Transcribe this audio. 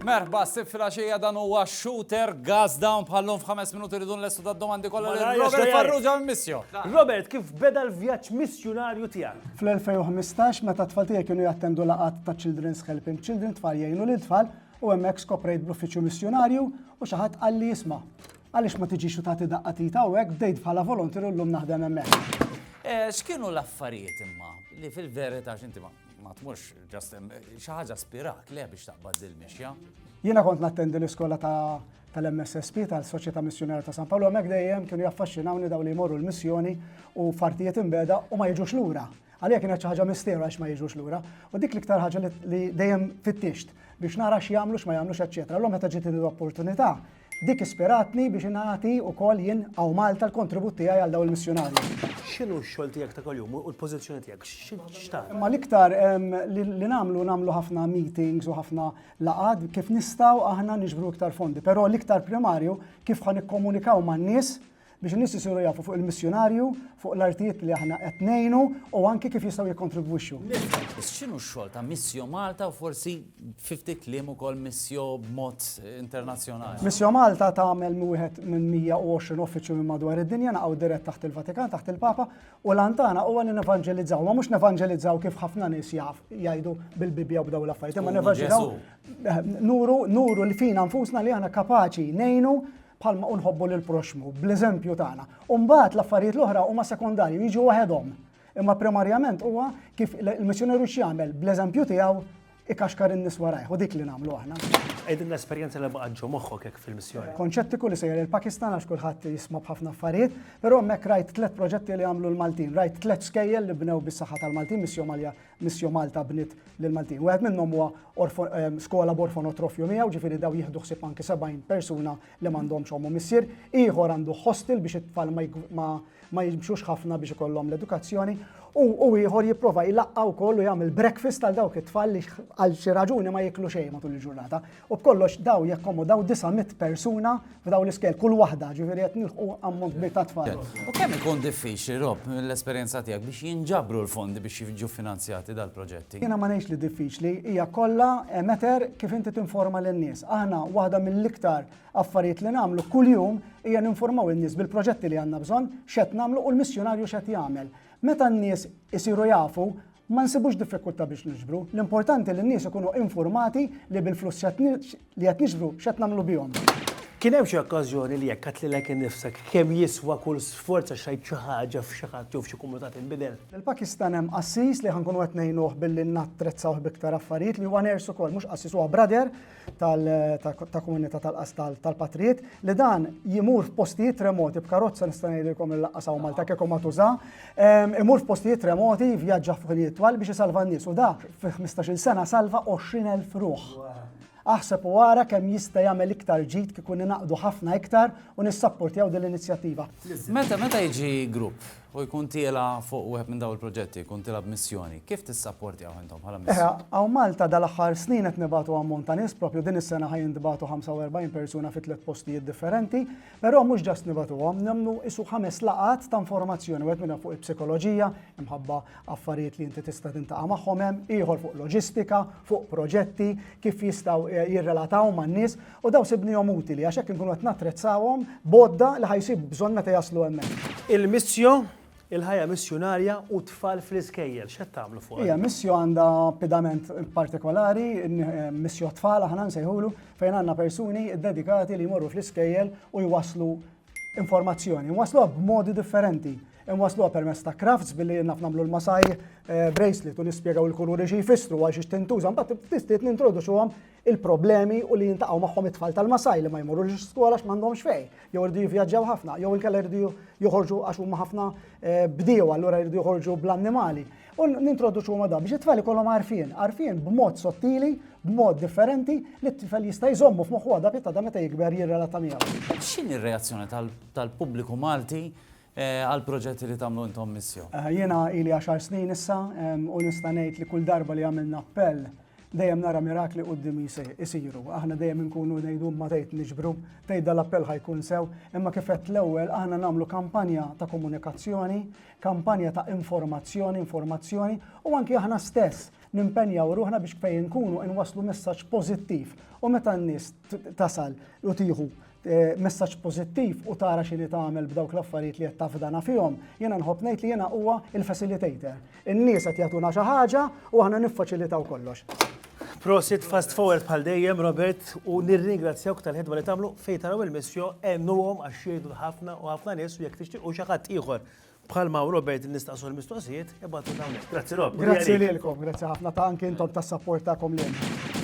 Merħba, sib fil-axija dan huwa shooter, gas down bħallum f'ħames minuti rridu l-estu da domandi kollha li Robert Farrugia missio. Robert, kif beda l-vjaġġ missjunarju tiegħek? Fl-2015 meta t-tfal tiegħi kienu jattendu laqat ta' Children's Helping Children tfal jgħinu lil tfal U hemmhekk skoprejt bl-uffiċċju missjunarju u xi ħadd qalli isma' għaliex ma tiġix u tagħti daqqa tit hawnhekk bdejt bħala volontier u llum naħdem hemmhekk. Eh, x'kienu l-affarijiet imma li fil-verità x'inti ma ma tmurx ġast xi ħaġa spirak le biex taqbad dil mixja. Jiena kont nattendi l-iskola ta' tal-MSSP tal-Soċjetà Missjonera ta' San Paolo hemmhekk dejjem kienu jaffaxxinawni daw li jmorru l-missjoni u fartijiet imbeda u ma jiġux lura. Għalija kienet xi ħaġa misteru għax ma jiġux lura, u dik l-iktar ħaġa li dejjem fittixt biex nara x'jagħmlu x'ma jagħmlux eċċetera. Allura meta ġiet l-opportunità, dik ispiratni biex ingħati wkoll jien hawn Malta l-kontribut tiegħi għal dawn il-missjunarji. X'inhu x-xogħol tiegħek ta' kuljum u l-pożizzjoni tiegħek? X'tagħmel? Imma l-iktar li nagħmlu nagħmlu ħafna meetings u ħafna laqgħat kif nistgħu aħna niġbru iktar fondi, però l-iktar primarju kif ħa nikkomunikaw man-nies biex in-nies isiru jafu fuq il-missjunarju, fuq l-artijiet li aħna qed ngħinu u anki kif jistgħu jikkontribwixxu. X'inhu x-xogħol ta' Missio Malta u forsi fi ftit kliem ukoll Missio b'mod internazzjonali? Missio Malta tagħmel wieħed minn 120 uffiċċju minn madwar id-dinja naqgħu dirett taħt il-Vatikan, taħt il-Papa, u l-għan tagħna huwa li nevanġelizzaw, ma mhux nevanġelizzaw kif ħafna nies jaf jgħidu bil-Bibbja u b'daw l-affarijiet, imma nevanġelizzaw nuru nuru li fina nfusna li aħna kapaċi ngħinu bħalma u nħobbu lil proxmu bl-eżempju tagħna. U mbagħad l-affarijiet l-oħra huma sekondarji jiġu waħedhom. Imma primarjament huwa kif il-missjonerju x'jagħmel bl-eżempju tiegħu ikaxkar in-nies warajh u dik li nagħmlu aħna. Qegħdin l-esperjenza li baqgħet ġo moħħok hekk fil-missjoni. Konċettiku li sejjer il-Pakistan għax kulħadd jisma' b'ħafna affarijiet, però hemmhekk rajt tliet proġetti li għamlu l-Maltin, rajt tliet skejjel li bnew bis-saħħa tal-Maltin, missjoni Malja Missio Malta bniet lill-Maltin. Wieħed minnhom huwa skola b'orfonotrofju miegħu, ġifieri daw jieħdu ħsieb anki 70 persuna li m'għandhomx ommu missier. Ieħor għandu hostel biex it-tfal ma jimxux ħafna biex ikollhom l-edukazzjoni. U ieħor jipprova jlaqqa wkoll u jagħmel breakfast għal dawk it-tfal li għal xi raġuni ma jiklu xejn matul il-ġurnata. U b'kollox daw jakkomodaw 900 persuna f'daw l-iskel, kull waħda, ġifieri qed nilħqu ammont kbir ta' tfal. U kemm ikun diffiċli, Rob, mill-esperjenza tiegħek biex jinġabru l-fondi biex jiġu finanzjati dal-proġetti? Jiena ma ngħidx li diffiċli, hija kollha a matter kif inti tinforma lin-nies. Aħna waħda mill-iktar affarijiet li nagħmlu kuljum hija ninformaw in-nies bil-proġetti li għandna bżonn, x'qed nagħmlu u l-missjunarju x'qed jagħmel. Meta n-nies isiru jafu, Ma nsibux diffikultà biex niġbru, l-importanti li n-nies ikunu infurmati li bil-flus li qed niġbru x'qed nagħmlu bihom. Kien hemm xi okkażjoni li jekk għedt lilek innifsek kemm jiswa kull sforz għax għidt xi ħaġa f'xi ħadd jew f'xi komunità tinbidel? Lill-Pakistan hemm qassis li ħa nkunu qed ngħinuh billi nattrezzaw b'iktar affarijiet li huwa nurse ukoll, mhux qassis huwa brother, ta' komunità tal-qas tal-patrijiet li dan jimur f'postijiet remoti b'karozza nista' ngħidilkom li laqqas hawn Malta kieku ma tuża, imur f'postijiet remoti vjaġġa f'ħinijiet twal biex isalva n-nies u da fi 15-il sena salva 20,000 ruħ. Aħseb u ara kemm jista' jagħmel iktar ġid kieku ningħaqdu ħafna iktar u nissappurtjaw din l-inizjattiva. Meta meta jiġi grupp? U jkun tiela' fuq wieħed minn dawn il-proġetti, jkun tiela' b'missjoni. Kif tissapportjawh intom bħala missjoni? Eħe, hawn Malta dal-aħħar snin qed nibagħtu ammont ta' nies, proprju din is-sena ħa jintbagħtu 45 persuna fi tliet postijiet differenti, però mhux just nibagħtuhom, nagħmlu qisu ħames laqgħat ta' informazzjoni, wieħed minnhom fuq il-psikoloġija, imħabba affarijiet li inti tista' tintaqa' magħhom hemm, ieħor fuq loġistika, fuq proġetti, kif jistgħu jirrelataw man-nies, U dawn sibnihom utili għax hekk inkunu qed nattrezzawhom b'għodda li ħa jsib bżonn meta jaslu hemmhekk. Il-Missio, Il-Ħajja Missjunarja u t-Tfal fl-Iskejjel, x'qed tagħmlu fuqha? Hija Missio għandha pedament partikolari, Missio Tfal aħna nsejħulu, fejn għandna persuni ddedikati li jmorru fl-iskejjel u jwasslu informazzjoni. Nwassluha b'modi differenti. Nwassluha permezz ta' crafts billi naf nagħmlu l-masaj eh, bracelet u nispjegaw il-kuluri xi jfissru għal xi tintuża, mbagħad ftit nintroduċuhom il-problemi u li jintaqgħu magħhom it-tfal tal-Masaj li ma jmorrux skola għax m'għandhomx fej, jew irdu jivvjaġġaw ħafna, jew inkella irdu joħorġu għax huma ħafna eh, bdiew allura irdu joħorġu bl-annimali. U nintroduċu huma da biex it-tfal ikollhom għarfien, għarfien b'mod sottili, b'mod differenti li t-tifel jista' jżommu f'moħħu għadha pitta da meta jikber jirrelata miegħu. X'inhi r-reazzjoni tal-pubbliku Malti għall-proġetti li tagħmlu intom missju? Jiena ili għaxar snin issa u nista' ngħid li kull darba li għamilna appell dejjem nara mirakli quddiem isiru. Aħna dejjem inkunu ngħidu imma tgħid niġbru, tgħid dal-appell ħa jkun sew, imma kif għedt l-ewwel aħna nagħmlu kampanja ta' komunikazzjoni, kampanja ta' informazzjoni, informazzjoni u anki aħna stess nimpenjaw ruħna biex fejn inkunu inwasslu messaġġ pożittiv u meta n-nies tasal u tieħu Eh, messaġġ pożittiv u tara x'inhi tagħmel b'dawk l-affarijiet li qed tafdana fihom, jiena nħobb ngħid li jiena huwa il-facilitator. In-nies qed jagħtuna xi ħaġa u aħna niffaċilitaw kollox. Prosit fast forward bħal dejjem Robert u nirringrazzjawk tal-ħidma li tagħmlu fejn taraw il-missjo għennuhom għax jgħidu ħafna u ħafna nies u jekk tixtiequ xi ħadd ieħor bħal ma' Robert nistaqsu l-mistoqsijiet, ibgħatu dawn. Grazzi Rob. Grazzi lilkom, grazzi ħafna ta' anke intom tas-sapport tagħkom lil.